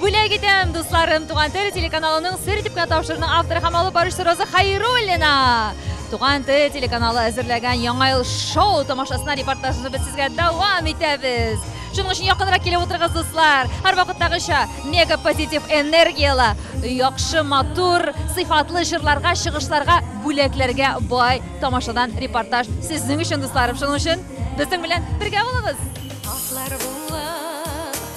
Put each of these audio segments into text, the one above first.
Бүләк итәм, дусларым, Туган тел телеканалының сер итеп кенә тапшыруның авторы һәм алып баручысы Роза Хайруллина. Туган тел телеканалы әзерләгән Яңа ел шоу тамашасына репортажны без сезгә дәвам итәбез. Шуның өчен якынрак килеп утырыгыз, дуслар. Һәр вакыттагыча мега позитив энергияле, яхшы, матур, сыйфатлы җырларга, чыгышларга, бүләкләргә бай тамашадан репортаж сезнең өчен, дусларым. Шуның өчен безнең белән бергә булыгыз. Атлар була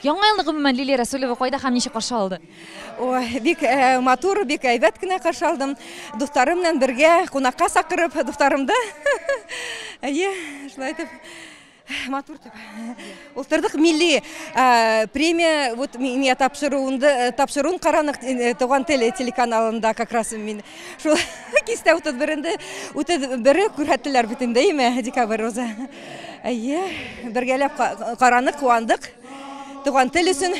Яңа елны гомумән Лилия Рәсүлева кайда һәм ничек каршы алды? Ой, бик матур, бик әйбәт кенә каршы алдым. Дусларым белән бергә кунакка сакырып, дусларымды. Әйе, шулай итеп матур итеп уздырдык. Милли премия вот миңа тапшыруында тапшыруын каранык Туган тел телеканалында как раз мин шул кистә 31-нде 31-е күрһәттеләр бит инде, әйеме, декабрь уза. Әйе, бергәләп каранык, куандык. Туган тел өчен.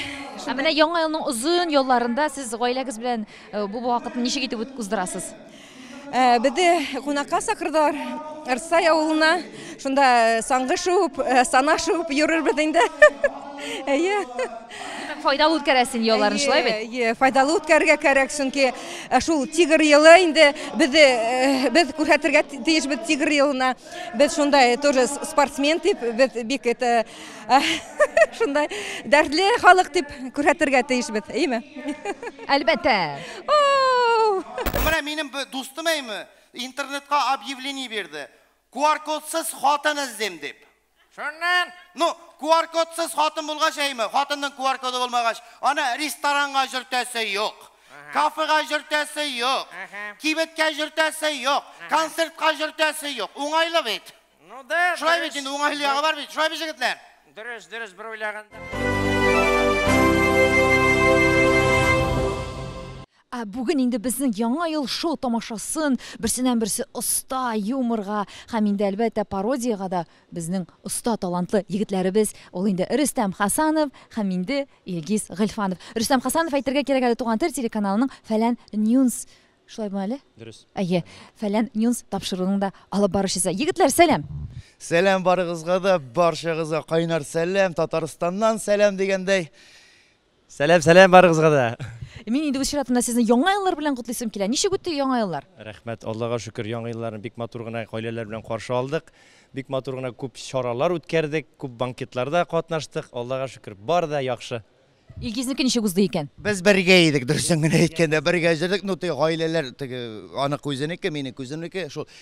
Ә менә яңа елның озын ялларында сез гаиләгез белән э, бу вакытны ничек итеп уздырасыз? Э, Безне кунакка сакырдылар Арсай авылына. Шунда э, саңгы шуып, сана шуып йөрербез инде. Әйе. Файдалы үткәрәсен ялларын шулай бит? Әйе, файдалы үткәрергә кәрәк, чөнки шул тигр елы инде без без күрһәтергә тиешбез тигр елына. Без шундай тоже спортсмен дип, без бик это шундай дәртле халык дип күрһәтергә тиешбез, әйме? Әлбәттә. Менә минем дустым әйме, интернетка объявление бирде. QR-кодсыз хатын эзлим дип. Шуннан. Ну, QR-кодсыз хатын булгач, әйме, хатынның QR-коды булмагач, аны ресторанга җөртәсе юк. Кафега җөртәсе юк. Кибеткә җөртәсе юк. Концертка җөртәсе юк. Уңайлы бит. Ну да. Шулай бит, инде уңайлы ягы бар бит. Шулай бит, җегетләр? Дөрес, дөрес бер уйлаганда. Ә бүген инде безнең Яңа ел шоу тамашасын берсеннән-берсе оста юморга һәм инде, әлбәттә, пародиягә дә безнең оста талантлы егетләребез, ул инде Рөстәм Хәсанов һәм инде Илгиз Гыйльфанов. Рөстәм Хәсанов, әйтергә кирәк әле, Туган тел телеканалының Фәлән Ньюнс, шулай була әле? Дөрес. Әйе, Фәлән Ньюнс тапшыруының да алып баручысы. Егетләр, сәлам! Сәлам барыгызга да, барчагызга кайнар сәлам, Татарстаннан сәлам дигәндәй. Сәлам, сәлам барыгызга да. Мин инде үз чиратымда сезне яңа еллар белән котлыйсым килә. Ничек үтте яңа еллар? Рәхмәт, Аллага шөкер, яңа елларны бик матур гына гаиләләр белән каршы алдык. Бик матур гына күп чаралар үткәрдек, күп банкетларда катнаштык. Аллага шөкер, бар да яхшы. Илгизнеке ничек узды икән? Без бергә идек, дөресен генә әйткәндә, бергә җөрдек. Ну, теге гаиләләр, теге аның үзенеке, минем үземнеке, шул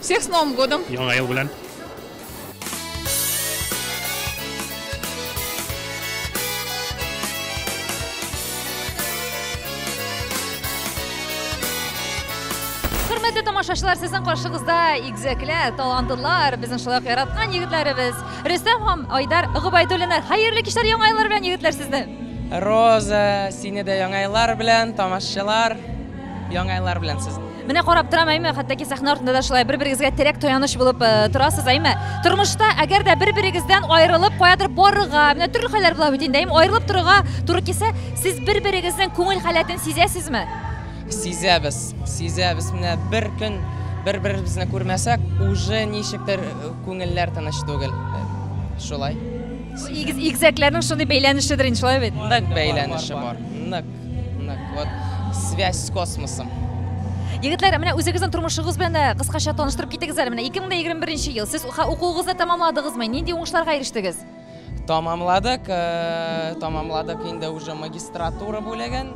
Всех с Новым годом! Яңа ел белән! Хөрмәтле тамашачылар, сезнең каршыгызда игзәкле, талантлылар, безнең шулай ук яраткан егетләребез Рөстәм һәм Айдар Гобайдуллиннар. Хәерле кичләр, яңа еллар белән егетләр сезне! Роза, сине дә яңа еллар белән, тамашачылар, яңа еллар белән сезне! Менә карап торам, әйме, хәтта ки сәхнә артында да шулай бер-берегезгә терәк таяныч булып э, торасыз, әйме. Тормышта әгәр дә бер-берегездән аерылып каядыр барырга, менә төрле хәлләр була бит инде, әйме, аерылып торырга туры килсә, сез бер-берегезнең күңел халәтен сизәсезме? Сизәбез, сизәбез. Менә бер көн бер-беребезне күрмәсәк, уже ничектер э, күңелләр тыныч түгел. Э, Шулай. Игез игезәкләрнең шундый бәйләнешедер инде, шулай бит. Нык бәйләнеше бар. Нык. Связь с космосом. Егетләр, менә үзегезнең тормышыгыз белән дә кыскача таныштырып китегез әле. Менә 2021 ел сез укуыгызны тәмамладыгызмы? Нинди уңышларга ирештегез? Тамамладык, э, тамамладык инде уже магистратура бүлеген.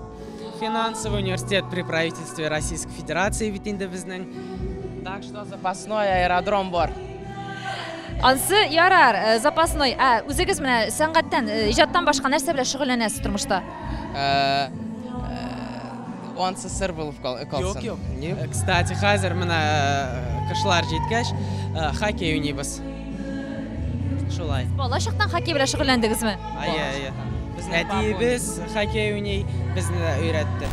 Финансовый университет при правительстве Российской Федерации бит инде безнең. Так что запасной аэродром бар. Ансы ярар, э, запасной. Ә үзегез менә сәнгатьтән, э, иҗаттан башка нәрсә белән шөгыльләнәсез тормышта? онсы сыр булып калсын. Юк, юк. Э, кстати, хәзер менә э, кышлар җиткәч, э, хоккей уйныйбыз. Шулай. Бала чактан хоккей белән шөгыльләндегезме? Әйе, әйе. Безнең әтиебез хоккей уйный, безне дә өйрәтте.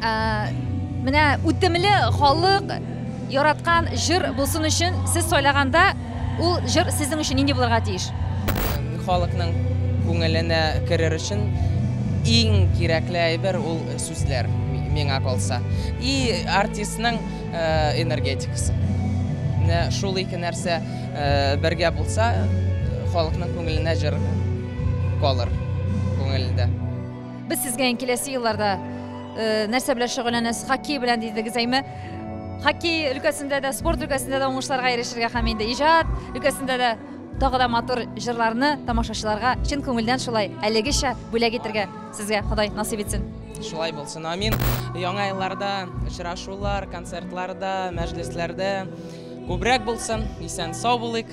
Ә, менә үтемле халык яраткан җыр булсын өчен сез сайлаганда ул җыр сезнең өчен нинди булырга тиеш? Халыкның күңеленә керер өчен иң кирәкле әйбер ул сүзләр миңа калса. И артистның э, энергетикасы. Менә шул ике нәрсә э, бергә булса, халыкның күңеленә җыр калыр күңелендә. Без сезгә ин киләсе елларда э, нәрсә белән шөгыльләнәсез? Хоккей белән дидегез, әйме? Хоккей өлкәсендә дә, спорт өлкәсендә дә уңышларга ирешергә һәм инде иҗат өлкәсендә дә тагы да матур җырларны тамашачыларга чын күңелдән шулай әлегечә бүләк итергә сезгә Ходай насыйп итсен. Шулай булсын, амин. Яңа елларда очрашулар, концертларда, мәҗлесләрдә күбрәк булсын. Исән сау булыйк.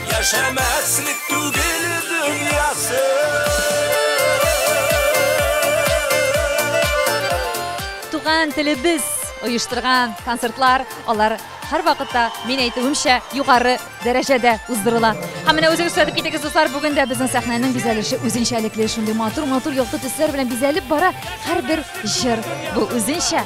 Яшәмәслек түгел дөньясы. Туган телебез оештырган концертлар, алар һәр вакытта мин әйтүемчә югары дәрәҗәдә уздырыла. Һәм менә үзегез күрсәтеп китегез, дуслар, бүген дә безнең сәхнәнең бизәлеше үзенчәлекле, шундый матур-матур якты төсләр белән бизәлеп бара. Һәрбер җыр бу үзенчә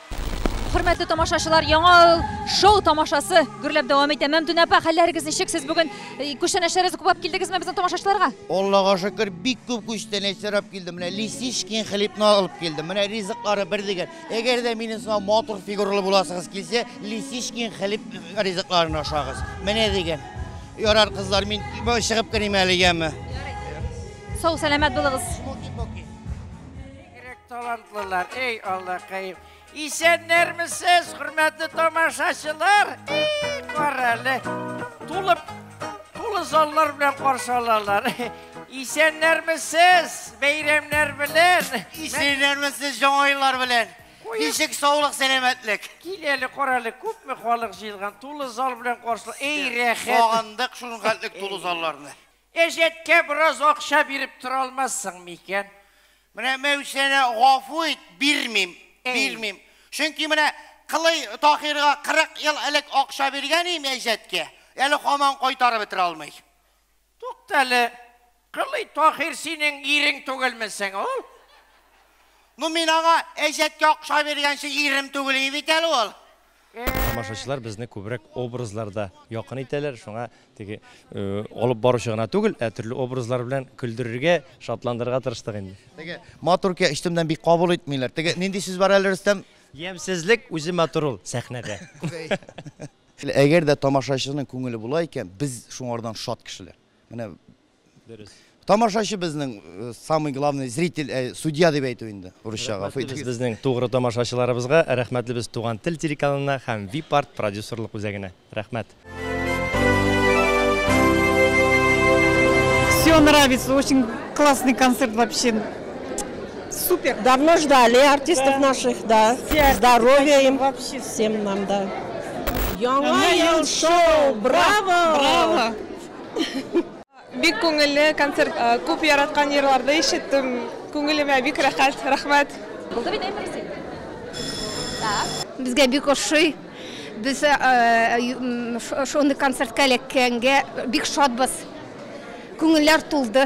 Хөрмәтле тамашачылар, яңа ел шоу тамашасы гөрләп дәвам итә. Мәмдүнә апа, хәлләрегез ничек? Сез бүген э, күчтәнәчләрегезне күпләп килдегезме безнең тамашачыларга? Аллага шөкер, бик күп күчтәнәч сорап килдем. Менә Лисичкин хлебны алып килдем. Менә ризыклары бер дигән. Әгәр дә минем сынау матур фигуралы буласыгыз килсә, Лисичкин хлеб ризыкларын ашагыз. Менә дигән. Ярар, кызлар, мин чыгып керим әле яме. Сау, сәламәт булыгыз. Ирек талантлылар, эй Аллакаем. Исәннәрмесез, хөрмәтле тамашачылар. Эй, карале. Тулып, тулы заллар белән каршы алалар. Исәннәрмесез, бәйрәмнәр белән. Исәннәрмесез, яңа еллар белән. Ничек саулык, сәламәтлек. Кил әле, карале, күпме халык җыелган, тулы зал белән каршы. Эй, рәхәт. Сагындык шул хәтлек тулы залларны. Кәҗәткә бераз акча биреп тора алмассың микән? Менә Мәүсәрә, гафу ит, бирмим, бирмим. Чөнки менә Кылый Таһирга 40 ел элек акча биргән идем Әҗәткә, әле һаман кайтарып бетерә алмый. Тукта әле, Кылый Таһир синең ирең түгелме соң ул? Ну, мин аңа Әҗәткә акча биргәнче ирем түгел иде бит әле ул. Тамашачылар безне күбрәк образларда якын итәләр, шуңа теге алып баручы гына түгел, ә төрле образлар белән көлдерергә, шатландырырга тырыштык инде. Теге матур икән, өстемнән бик кабул итмиләр. Теге нинди сүз бар әле, Рөстәм? Ямьсезлек үзе матур ул сәхнәдә. Әгәр дә тамашачының күңеле була икән, без шуңардан шат кешеләр. Менә Дөрес. Тамашачы безнең э, самый главный зритель, э, судья дип әйтү инде, урысча гафу Рәхмәтлебез итегез. безнең тугры тамашачыларыбызга, рәхмәтлебез Туган тел телеканалына һәм Випарт продюсерлык үзәгенә. Рәхмәт. Все нравится, очень классный концерт вообще. Супер. Давно ждали артистов наших, да. Все Здоровья им Вообще. всем нам, да. Яңа ел шоу! Браво! Браво! Бик күңелле концерт. Күп яраткан җырларды ишеттем. Күңелемә бик рәхәт. Рәхмәт. Булды бит әйбер син. Так. Безгә бик ошый. Без шундый концертка эләккәнгә бик шатбыз. Күңелләр тулды.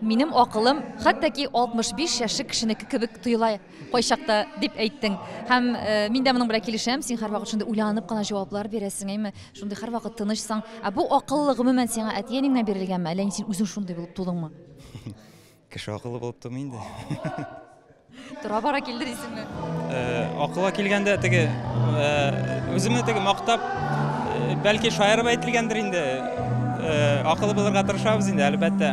Минем акылым хәтта ки 65 яшьлек кешенеке кебек тоела кайчакта, дип әйттең. Һәм э, мин дә моның белән килешәм, син һәрвакыт шундый уйланып кына җаваплар бирәсең, әйме? Шундый һәрвакыт тынычсың. Ә бу акыллы гомумән сиңа әти-әнеңнән бирелгәнме, әллә син үзең шундый булып тудыңмы? Кеше акыллы булып тумый инде. Тора-бара килде дисеңме? Э, акылга килгәндә теге э, үземне теге мактап, э, бәлки шаярып әйтелгәндер инде. Акылы булырга тырышабыз инде, әлбәттә.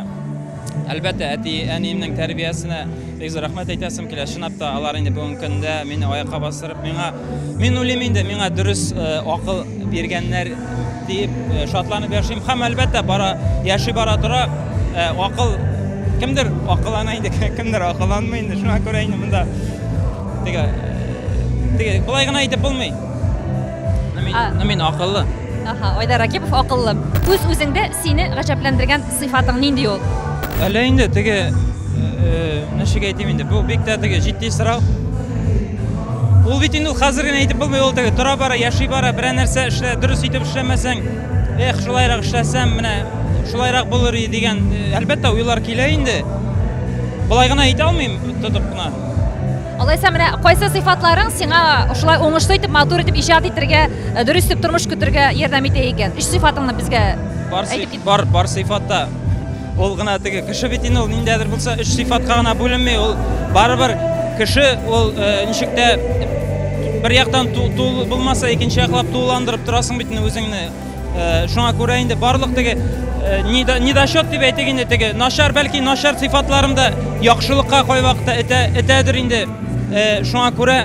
Әлбәттә, әти әниемнең тәрбиясенә бик зур рәхмәт әйтәсем килә. Чынлап та алар инде бүгенге көндә мине аякка бастырып, миңа мин уйлыйм инде, миңа дөрес э, акыл биргәннәр Диеп э, шатланып яшим һәм әлбәттә бара яши бара тора э, акыл кемдер акыллана инде кемдер акылланмый инде шуңа күрә инде монда теге э, теге болай гына әйтеп булмый мин, мин акыллы Аха, Айдар Ракипов акыллы. Үз үзеңдә сине гаҗәпләндергән Сыйфатың нинди ул? Әллә инде теге ничек әйтим инде, бу бик тә теге җитди сорау. Ул бит инде хәзер генә әйтеп булмый, ул теге тора бара, яши бара, берәр нәрсә эшлә, дөрес итеп эшләмәсәң, эх, шулайрак эшләсәм, менә шулайрак булыр иде дигән, әлбәттә, уйлар килә инде. Болай гына әйтә алмыйм, тотып кына. Алайса менә кайсы сыйфатларың сиңа шулай уңышлы итеп, матур итеп иҗат итәргә, дөрес итеп тормыш көтәргә ярдәм итә икән? Өч сыйфатыңны безгә әйтеп Бар, бар сыйфатта. Ул гына теге кеше бит инде ул ниндәдер булса өч сыйфатка гына бүленми, ул барыбер кеше ул э, ничек тә бер яктан тул булмаса, икенче яклап тулыландырып торасың бит үзеңне. Э, шуңа күрә инде барлык теге э, недочет дип әйтик инде теге начар бәлки начар сыйфатларым да яхшылыкка кайвакытта этә этәдер инде. Шуңа күрә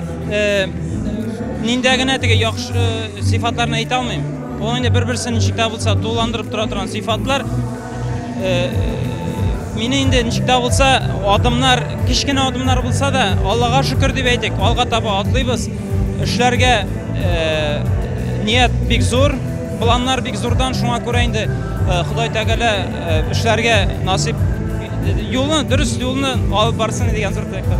ниндә генә теге яхшы сыйфатларны әйтә алмыйм. Ул инде бер-берсен ничек тә булса тулыландырып тора торган сыйфатлар. Мине инде ничек тә булса адымнар, кечкенә адымнар булса да, Аллага шөкер дип әйтик, алга таба атлыйбыз. Эшләргә ният бик зур, планнар бик зурдан, шуңа күрә инде Ходай Тәгалә эшләргә насыйп юлны, дөрес юлны алып барсын дигән зур теләктә.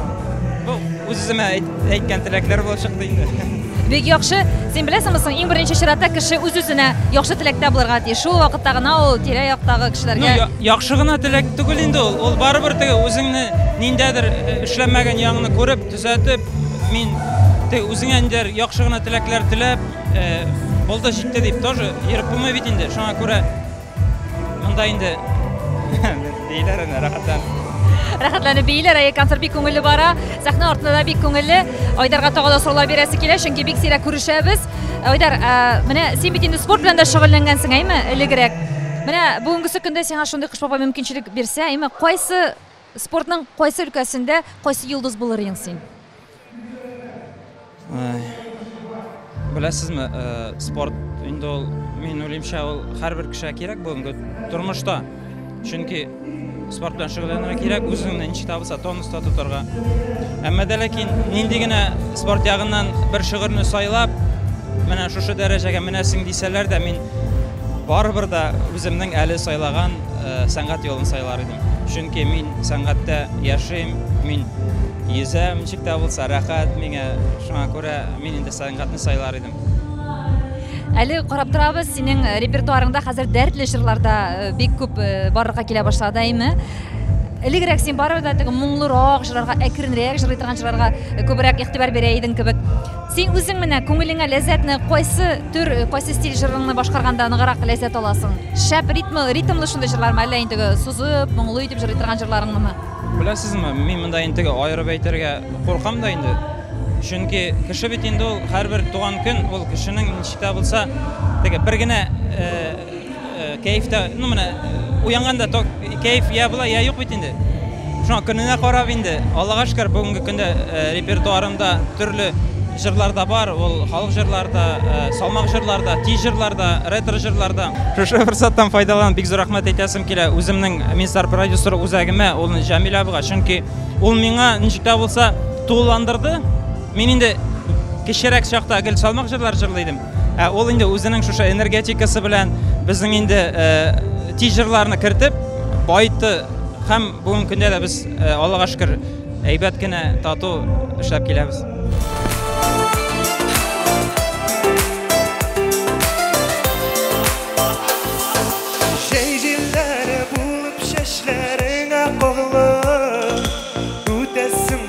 Бу үз-үземә әйткән теләкләр булып чыкты инде. Бик яхшы. Син беләсеңме соң, иң беренче чиратта кеше үз-үзенә яхшы теләктә булырга тиеш. Шул вакытта гына ул тирә-яктагы кешеләргә ну, яхшы гына теләк түгел инде ул. Ул барыбер теге үзеңне ниндәдер э, эшләмәгән ягыңны күреп, төзәтеп, мин теге үзеңә ниндәдер яхшы гына теләкләр теләп, э, булды җитте дип тоже ерып булмый бит инде. Шуңа күрә Монда инде бейләр әнә рәхәтләнеп. Рәхәтләнеп бейләр, әйе, концерт бик күңелле бара. Сәхнә артында да бик күңелле. Айдарга тагы да сораулар бирәсе килә, чөнки бик сирәк күрешәбез. Айдар, ә, менә син бит инде спорт белән дә шөгыльләнгәнсең, әйме, элегрәк. Менә бүгенгесе көндә сиңа шундый Кыш бабай мөмкинчелек бирсә, әйме, кайсы спортның кайсы өлкәсендә кайсы йолдыз булыр идең син? Беләсезме, э, спорт инде ул, мин уйлыймча, ул һәрбер кешегә кирәк бүгенге тормышта. Чөнки спорт белән шөгыльләнергә кирәк, үзеңне ничек табылса тонуста тотарга. Әмма дә ләкин нинди генә спорт ягыннан бер шөгырьне сайлап, менә шушы дәрәҗәгә менәсең дисәләр дә, мин Барыбер дә үземнең әле сайлаган сәнгать юлын сайлар идем. Чөнки мин сәнгатьтә яшим, мин йөзәм, ничек тә булса рәхәт миңа. Шуңа күрә мин инде сәнгатьне сайлар идем. Әле карап торабыз, синең репертуарыңда хәзер дәртле җырлар да бик күп барлыкка килә башлады, әйме? Элегрәк син барыбер дә теге моңлырак җырларга, әкренрәк җырлый торган җырларга күбрәк игътибар бирә идең кебек. Син үзең менә күңелеңә ләззәтне кайсы төр, кайсы стиль җырыңны башкарганда ныгырак ләззәт аласың? Шәп ритмы, ритмлы шундый җырлармы, әллә интеге сузып, моңлы итеп җырлый торган җырларыңнымы? Беләсезме, мин монда интеге аерып әйтергә куркам да инде. Чөнки кеше бит инде ул һәрбер туган көн ул кешенең ничек тә булса теге бер генә Кәеф тә, ну менә уянганда ток кәеф я була, я юк бит инде. Шуңа көненә карап инде. Аллага шөкер, бүгенге көндә э, репертуарымда төрле җырлар да бар. Ул халык җырлары да, э, салмак җырлар да, тиз җырлар да, ретро җырлар да. Шушы форсаттан файдаланып бик зур рәхмәт әйтәсем килә үземнең Минстар продюсер үзәгемә, ул Җамил абыга, чөнки ул миңа ничек тә булса тулыландырды. Мин инде кечерәк чакта гел салмак җырлар җырлый идем. Ә ул инде үзенең шушы энергетикасы белән безнең инде тизерларны кертеп, байты һәм бүгенге көндә дә без Аллага шөкер әйбәт кенә тату эшләп киләбез. Җәй җилләре булып чәчләреңә кагылып, үтәсең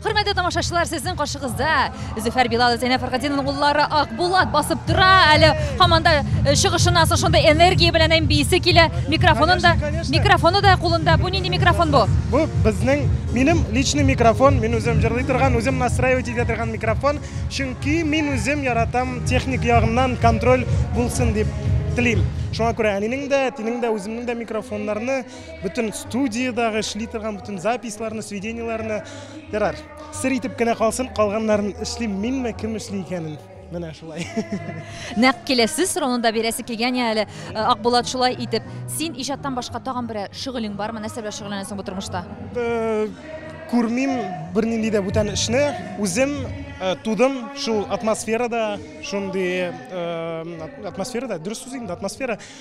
Хөрмәтле тамашачылар, сезнең каршыгызда Зөфәр Билал Зәйнәп Фәргатинның уллары Акбулат басып тора. Әле һаман да э, чыгышыннан соң шундый энергия белән әм биисе килә. Микрофонын да, Конечно, конечно. микрофоны да кулында. Бу нинди микрофон бу? Бу безнең минем личный микрофон, мин үзем җырлый торган, үзем настраивать итә торган микрофон, чөнки мин үзем яратам техник ягыннан контроль булсын дип телим. Шуңа күрә әнинең дә, әтинең дә, үземнең дә микрофоннарны Бүтін студиядағы эшли торган бүтін записларны, сведенияләрне ярар. Сер итеп кенә калсын, калганнарын эшлим минме, кем эшли икәнен. Менә шулай. Нәкъ киләсе сорауны да бирәсе килгән я әле. Э, Акбулат шулай итеп, син иҗаттан башка тагын бер шөгылең бармы? Нәрсә белән шөгыльләнәсең бу тормышта? Э, күрмим бернинди дә бүтән эшне. Үзем э, тудым шул атмосферада, шундый э, атмосферада, дөрес сүз инде, атмосфера.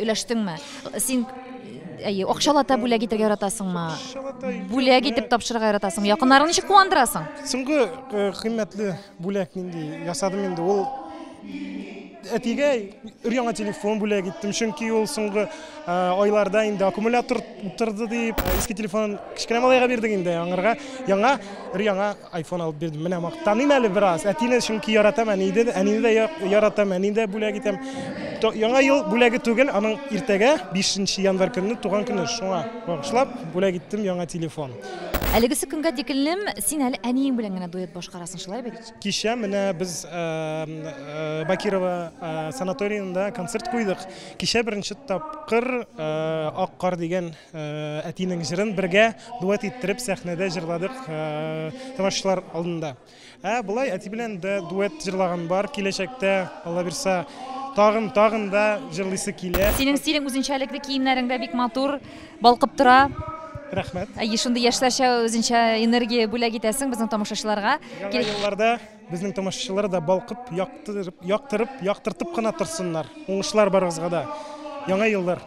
Өләштеңме? Син әйе, акчалата бүләк итәргә яратасыңмы? Акчалата Бүләк итеп тапшырырга яратасың. Якыннарыңны ничек куандырасың? Соңгы э, кыйммәтле бүләк нинди ясадым инде ул әтигә өр-яңа телефон бүләк иттем, чөнки ул соңгы э, айларда инде аккумулятор утырды дип, иске телефон кечкенә малайга бирдек инде аңарга. Яңа өр-яңа Айфон алып бирдем. Менә мактаныйм әле бераз. Әтине чөнки яратам, әнине, әнине дә яратам, әнине дә бүләк итәм. Яңа ел бүләге түгел, аның иртәгә 5 январь көнне туган көне. Шуңа багышлап бүләк иттем яңа телефон. Әлегесе көнгә тиклем син әле әниең белән генә дуэт башкарасың, шулай бит? Кичә менә без э, э, Бакирова э, санаториенда концерт куйдык. Кичә беренче тапкыр Ак кар дигән Әтинең җырын бергә дуэт иттереп сәхнәдә җырладык тамашачылар алдында. Ә болай әти белән дә дуэт җырлаган бар. Киләчәктә, Алла бирса, тагын, тагын да җырлыйсы килә. Синең стилең үзенчәлекле, киемнәрең дә бик матур, балкып тора. Рәхмәт. Әйе, шундый яшьләрчә үзенчә энергия бүләк итәсең безнең тамашачыларга. Яңа елларда безнең тамашачылар да балкып, яктырып, яктыртып кына торсыннар. Уңышлар барыгызга да. Яңа еллар!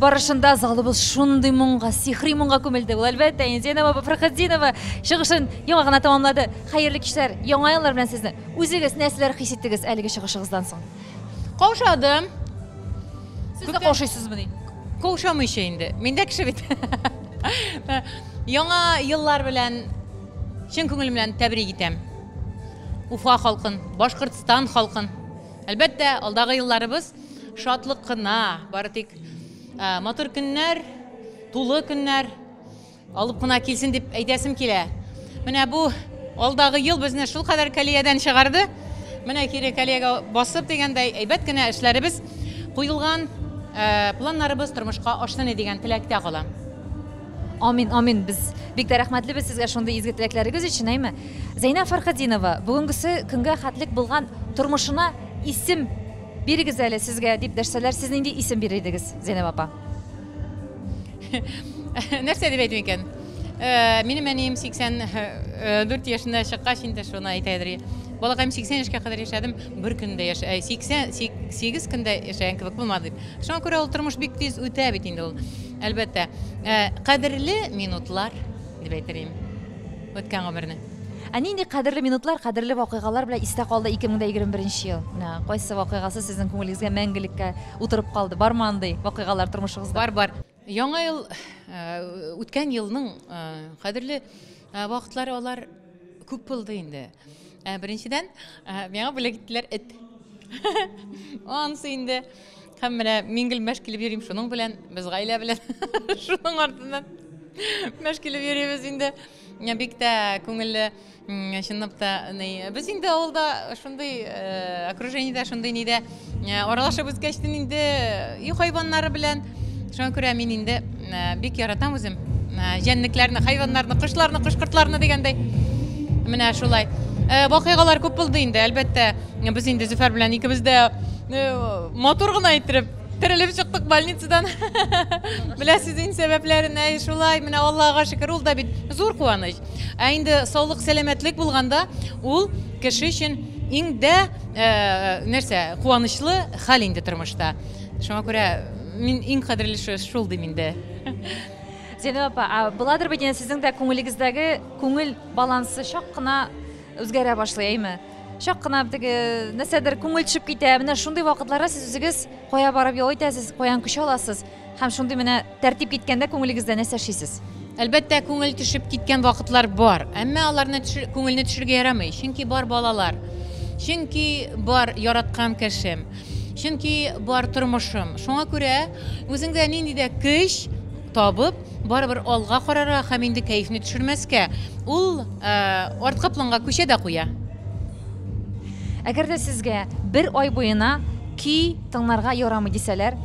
барышында залыбыз шундый моңга, сихри моңга күмелде. Ул әлбәттә инде Зейнәб апа Фәрхетдинова чыгышын яңа гына тәмамлады. Хәерле кичләр, яңа еллар белән сезне. Үзегез нәрсәләр хис иттегез әлеге чыгышыгыздан соң? Каушадым. Сез дә каушыйсызмыни? Каушамыйча инде. Мин дә кеше бит. Яңа еллар белән чын күңелем белән тәбрик итәм. Уфа халкын, Башкортстан халкын. Әлбәттә, алдагы елларыбыз Шатлык кына, бары тик матур көннәр, тулы көннәр алып кына килсен дип әйтәсем килә. Менә бу алдагы ел безне шул кадәр калиядән чыгарды. Менә кире калиягә басып дигәндәй, әйбәт кенә эшләребез куелган, э, планнарыбыз тормышка ашсын дигән теләктә калам. Амин, амин. Без бик тә рәхмәтлебез сезгә шундый изге теләкләрегез өчен, әйме? Зәйнә Фархадинова, бүгенгесе көнгә хәтлек булган тормышына исем Бирегез әле сезгә дип дәшсәләр, сез нинди исем бирер идегез, Зәйнәб апа? Нәрсә дип әйтим икән? Э, минем әнием 84 э, э, яшендә чыккач инде шуны әйтәдер. Балакаем 80 яшькә кадәр яшәдем, бер көндә яшә, 88 көндә яшәгән кебек булмады дип. Шуңа күрә ул тормыш бик тиз үтә бит инде ул. Әлбәттә, кадерле минутлар дип әйтер идем. Үткән гомерне. Ә нинди кадерле минутлар, кадерле вакыйгалар белән истә калды 2021 нче ел? Менә кайсы вакыйгасы сезнең күңелегезгә мәңгелеккә утырып калды? Бармы андый вакыйгалар тормышыгызда? Бар, бар. Яңа ел, э, үткән елның э, кадерле э, вакытлары алар күп булды инде. Ә, Беренчедән, ә, миңа бүләк иттеләр эт. Ансы инде. Һәм менә мин гел мәш килеп йөрим шуның белән, без гаилә белән шуның артыннан мәш килеп йөрибез инде. Менә бик тә күңелле, чынлап та, без инде авылда шундый окружениедә, шундый нидә аралашып үскәч, инде өй хайваннары белән, шуңа күрә мин инде бик яратам үзем җәнлекләрне, хайваннарны, кошларны, кош-кортларны дигәндәй. Менә шулай. Вакыйгалар күп булды инде, әлбәттә, без инде Зөфәр белән икебез дә матур гына иттереп Терелеп чыктык больницадан. Беләсез инде сәбәпләрен, әй шулай, менә Аллага шөкер, ул да бит зур куаныч. Ә инде саулык, сәламәтлек булганда, ул кеше өчен иң дә э, нәрсә, куанычлы хәл инде тормышта. Шуңа күрә мин иң кадерлесе шул дим инде. Зәйнәб апа, а буладыр бит инде сезнең дә күңелегездәге күңел балансы чак кына үзгәрә башлый, әйме? чак кына теге нәрсәдер күңел төшеп китә менә шундый вакытларда сез үзегез кая барып ял итәсез каян көч аласыз һәм шундый менә тәртип киткәндә күңелегездә нәрсә эшлисез әлбәттә күңел төшеп киткән вакытлар бар әмма аларны төшер, күңелне төшерергә ярамый чөнки бар балалар чөнки бар яраткан кешем чөнки бар тормышым шуңа күрә үзеңдә нинди дә көч Табып, барыбер алга карарга һәм инде кәефне төшермәскә, ул арткы планга күчә дә куя. Әгәр дә сезгә бер ай буена көй тыңларга ярамый дисәләр,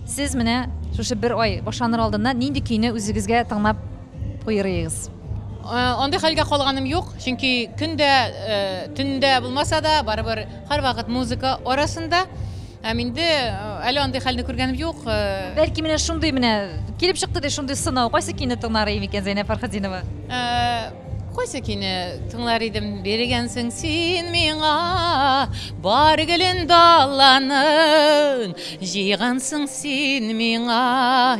сез менә шушы бер ай башланыр алдыннан нинди көйне үзегезгә тыңлап куерыегыз? Андый хәлгә калганым юк, чөнки көндә, төндә булмаса да, барыбер һәрвакыт музыка арасында. Һәм инде әле андый хәлне күргәнем юк. Бәлки менә шундый менә килеп чыкты ди шундый сынау. Кайсы көйне тыңлар идең икән, Зәйнәб Фәрхетдинова? Кайсы көйне тыңлар идем? Биргәнсең син миңа бар гөлен даланың, җыйгансың син миңа.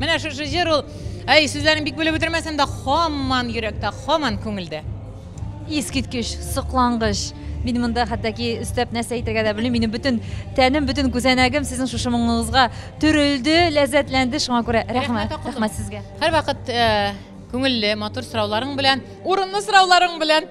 Менә шушы җыр ул, әй, сүзләрен бик белеп бетермәсәм дә, хаман йөрәктә, хаман күңелдә. Искиткеч, соклангыч. Мин монда хәтта ки өстәп нәрсә әйтергә дә белмим. Минем бөтен тәнем, бөтен күзәнәгем сезнең шушы моңыгызга төрелде, ләззәтләнде. Шуңа күрә рәхмәт, рәхмәт сезгә. Һәрвакыт э, күңелле, матур сорауларың белән, урынлы сорауларың белән.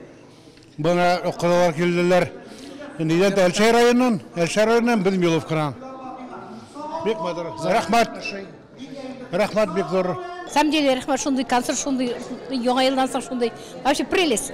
Бына укыралар килделәр. Нидән Әлшәй районыннан? Әлшәй районыннан без Миловкадан. Бик матур. Рәхмәт. Рәхмәт бик зур. Сам деле рәхмәт шундый концерт, шундый яңа елдан соң шундый. Вообще прелесть.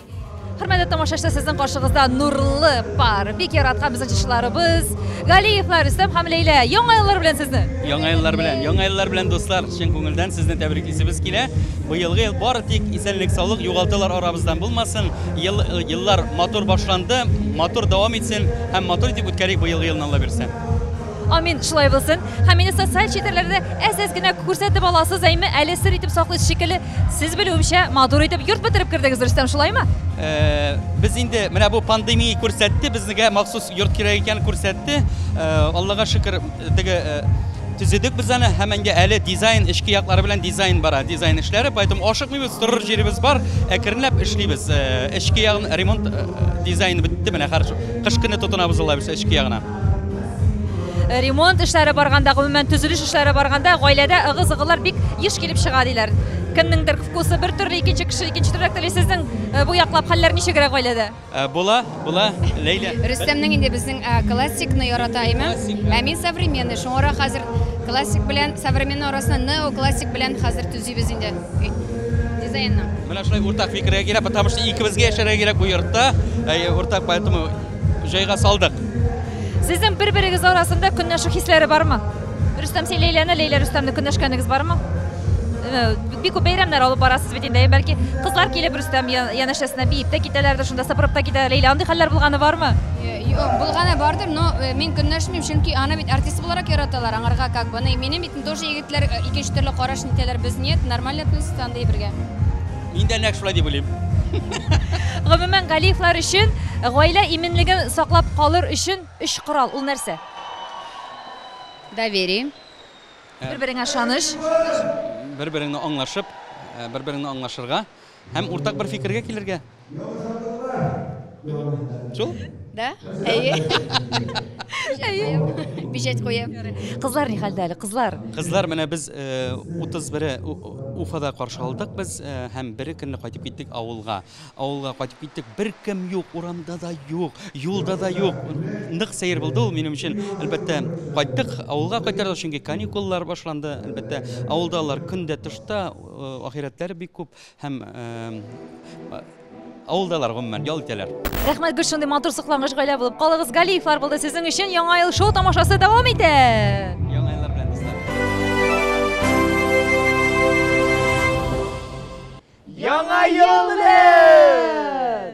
Хөрмәтле тамашачы, сезнең каршыгызда нурлы пар. Бик яраткан безнең чышларыбыз. Галиевлар Рөстәм һәм Ләйлә. Яңа еллар белән сезне. Яңа еллар белән. Яңа еллар белән дуслар. Чын күңелдән сезне тәбриклисебез килә. Бу елгы ел бары тик исәнлек, саулык, югалтулар арабыздан булмасын. Ел еллар матур башланды, матур дәвам итсен һәм матур итеп үткәрик бу елгы елны Алла бирсә. Амин, шулай булсын. Һәм мине социаль челтәрләрдә әз-әз генә күрсәтеп аласыз, әйме, әле сер итеп саклыйсыз шикелле. Сез белүемчә, матур итеп йорт бетереп кердегез, Рөстәм, шулаймы? Э, без инде менә бу пандемия күрсәтте, безнегә махсус йорт кирәк икәнен күрсәтте. Э, Аллага шөкер, теге э, төзедек без аны һәм инде әле дизайн эчке яклары белән дизайн бара, дизайн эшләре, поэтому ашыкмыйбыз, торыр җиребез бар, әкренләп эшлибез. Э, Эчке ягын ремонт э, дизайн бетте менә, хәзер кыш көне тотынабыз, Алла бирсә, эчке ягына. Ремонт эшләре барганда, гомумән төзелеш эшләре барганда, гаиләдә ыгы-зыгылар бик еш килеп чыга диләр. Кемнеңдер вкусы бер төрле, икенче кеше икенче төрлерәк тели. Сезнең э, бу яклап хәлләр ничегрәк гаиләдә? Э, була, була, Ләйлә. Рөстәмнең инде безнең э, классикны ярата име? Ә мин современный, шуңарак хәзер классик белән современный арасында неоклассик белән хәзер төзибез инде дизайнны. Менә шулай уртак фикергә килә, потому что икебезгә яшәргә кирәк бу йортта. Уртак, поэтому җайга салдык. Сезнең бер-берегез арасында көнләшү хисләре бармы? Рөстәм, син Ләйләне, Ләйлә Рөстәмне көнләшкәнегез бармы? Э, бик күп бәйрәмнәр алып барасыз бит инде. Бәлки кызлар килеп Рөстәм янәшәсенә биеп тә китәләр, шунда сыпырып та китәләр. Ләйлә, андый хәлләр булганы бармы? Э, юк, булганы бардыр, но э, мин көнләшмим, чөнки аны бит артист буларак яраталар, аңарга как бы. Минем бит тоже егетләр икенче төрле караш итәләр. Без нет, нормально относится андый бергә. Мин дә нәкъ шулай дип уйлыйм. Гомумән, Галиевлар өчен гаилә иминлеген саклап калыр өчен өч корал. Ул нәрсә? Доверие. Бер-береңә ышаныч. Бер-береңне аңлашып, бер-береңне аңлашырга һәм уртак бер фикергә килергә. Шул? Да? Әйе. Әйе. Бижәт куе. Кызлар ни хәлдә әле, кызлар? Кызлар менә без 31 э, Уфада каршы алдык без э, һәм бер көнне кайтып киттек авылга. Авылга кайтып киттек, бер кем юк, урамда да юк, юлда да юк. Нык сәер булды ул минем өчен. Әлбәттә, кайттык, авылга кайтардык, чөнки каникуллар башланды. Әлбәттә, авылда алар көндә тышта, э, ахирәтләре бик күп. Һәм авылдалар гомумән ял итәләр. Рәхмәт гел шундый матур соклангыч гаилә булып калыгыз. Галиевлар булды сезнең өчен яңа ел шоу тамашасы дәвам итә. Яңа еллар белән дуслар. Яңа ел белән!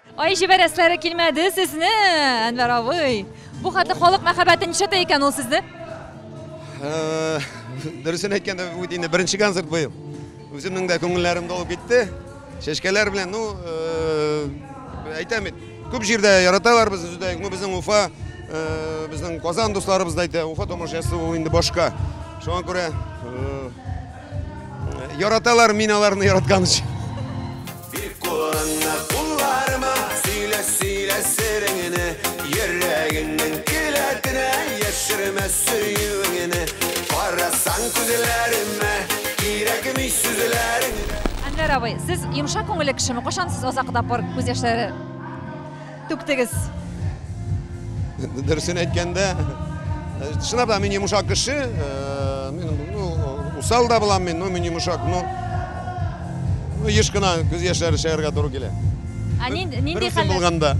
Ай, җибәрәсләре килмәде сезне, Әнвәр абый. Бу хәтле халык мәхәббәте ничә тә икән ул сезне? Э, дөресен әйткәндә, бу инде беренче концерт быел. Үземнең дә күңелләрем долып китте. Чәчкәләр белән, ну, э, әйтәм бит, күп җирдә яраталар безне үзебездә, ну, безнең Уфа, э, безнең Казан дусларыбыз да әйтә, Уфа тамашасы ул инде башка. Шуңа күрә яраталар мин аларны яраткан өчен. Бир кулыңны кулларыма, сөйлә, сөйлә сереңне, йөрәгеңнең келәтенә, яшермә сөюеңне. Карасаң күзләремә, кирәкми сүзләрең. Әнвәр абый, сез йомшак күңелле кешеме? Кайчан сез азакы тапкыр күз яшьләре? Түктегез. Дөресен әйткәндә, чынлап та мин йомшак кеше, мин ну усал да булам мин, ну мин йомшак, ну еш кына күз яшьләре чыгарга туры килә. Ә нинди нинди хәл булганда?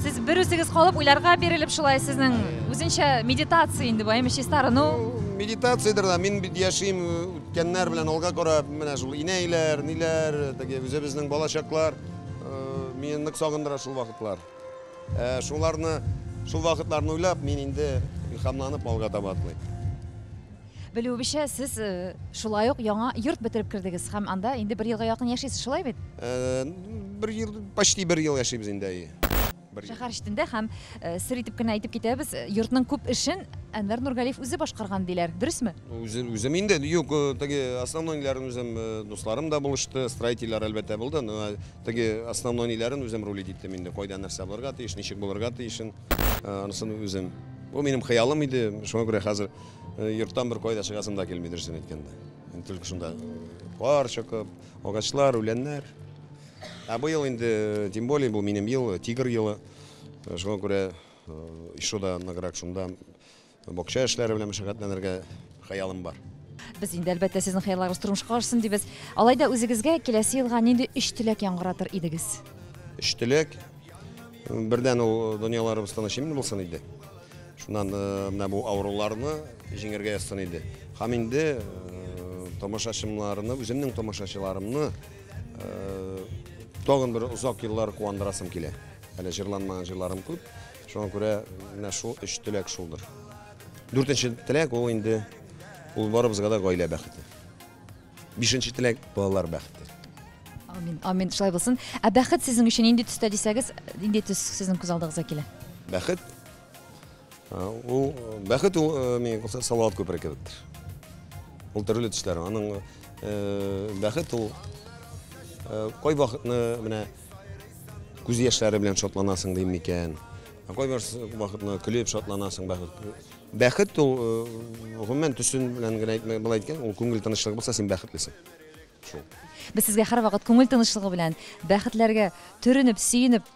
Сез бер үзегез калып уйларга бирелеп шулай сезнең үзенчә медитация инде бу, әйме чиста арыну. Медитациядер дә мин бит яшим үткәннәр белән алга карап, менә шул инәйләр, ниләр, теге үзебезнең балачаклар. Мине нык сагындыра шул вакытлар. Шуларны, шул вакытларны уйлап, мин инде илһамланып алга таба атлыйм. Белүебезчә, сез шулай ук яңа йорт бетереп кердегез һәм анда инде бер елга якын яшисез, шулай бит? Бер ел, почти бер ел яшибез инде, әйе. Шәһәр читендә һәм, сер итеп кенә әйтеп китәбез, йортның күп эшен Әнвәр Нургалиев үзе башкарган, диләр. Дөресме? Үзем инде, юк, теге основнойларын үзем, дусларым да булышты, строительләр, әлбәттә, булды, но теге основнойларын үзем рулить иттем инде, кайда нәрсә булырга тиеш, ничек булырга тиешен, анысын үзем. Бу минем хыялым иде, шуңа күрә хәзер йорттан беркайда чыгасым да килми, дөресен әйткәндә. Только шунда кар чокып, агачлар, үләннәр. Ә быел инде, тем более, бу минем ел, тигр елы. Шуңа күрә еще да ныграк шунда бакча эшләре белән мәшәкатьләнергә хыялым бар. Без инде әлбәттә сезнең хыялларыгыз тормышка ашсын дибез. Алай да үзегезгә киләсе елга нинди өч теләк яңгыратыр идегез? Өч теләк. Бердән ул дөньяларыбыз тыныч имин булсын иде. Шуннан э, менә бу авыруларны җиңергә язсын иде. Һәм инде э, тамашачыларны, үземнең тамашачыларымны Э, тагын бер озак еллар куандырасым килә. Әле җырланмаган җырларым күп. Шуңа күрә менә шул өч теләк шулдыр. Дүртенче теләк ул инде ул барыбызга да гаилә бәхете. Бишенче теләк балалар бәхете. Амин, амин, шулай булсын. Ә бәхет сезнең өчен нинди төстә дисәгез, нинди төс сезнең күз алдыгызга килә? Бәхет Ул бәхет ул мин кылса салават күпере кебектер. Ул төрле төшләр. Аның бәхет ул кай вакытны менә күз яшьләре белән шатланасың дим микән? Кай вакытны көлеп шатланасың бәхет. Бәхет ул гомумән төсен белән генә әйтмәй былай әйткән, ул күңел тынычлыгы булса син бәхетлесең. Шул. Без сезгә һәрвакыт күңел тынычлыгы белән, бәхетләргә төренеп, сөенеп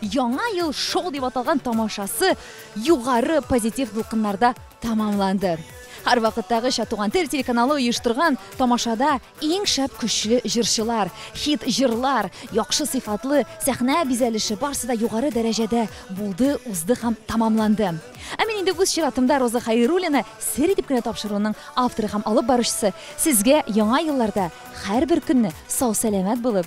Яңа ел шоу дип аталган тамашасы югары позитив дулкыннарда тәмамланды. Һәрвакыттагыча Туган тел телеканалы оештырган тамашада иң шәп көчле җырчылар, хит җырлар, яхшы сыйфатлы сәхнә бизәлеше барсы да югары дәрәҗәдә булды, узды һәм тәмамланды. Ә мин инде үз чиратымда Роза Хәйруллина Сер итеп кенә тапшыруының авторы һәм алып баручысы, сезгә Яңа елларда һәрбер көнне сау-сәламәт булып,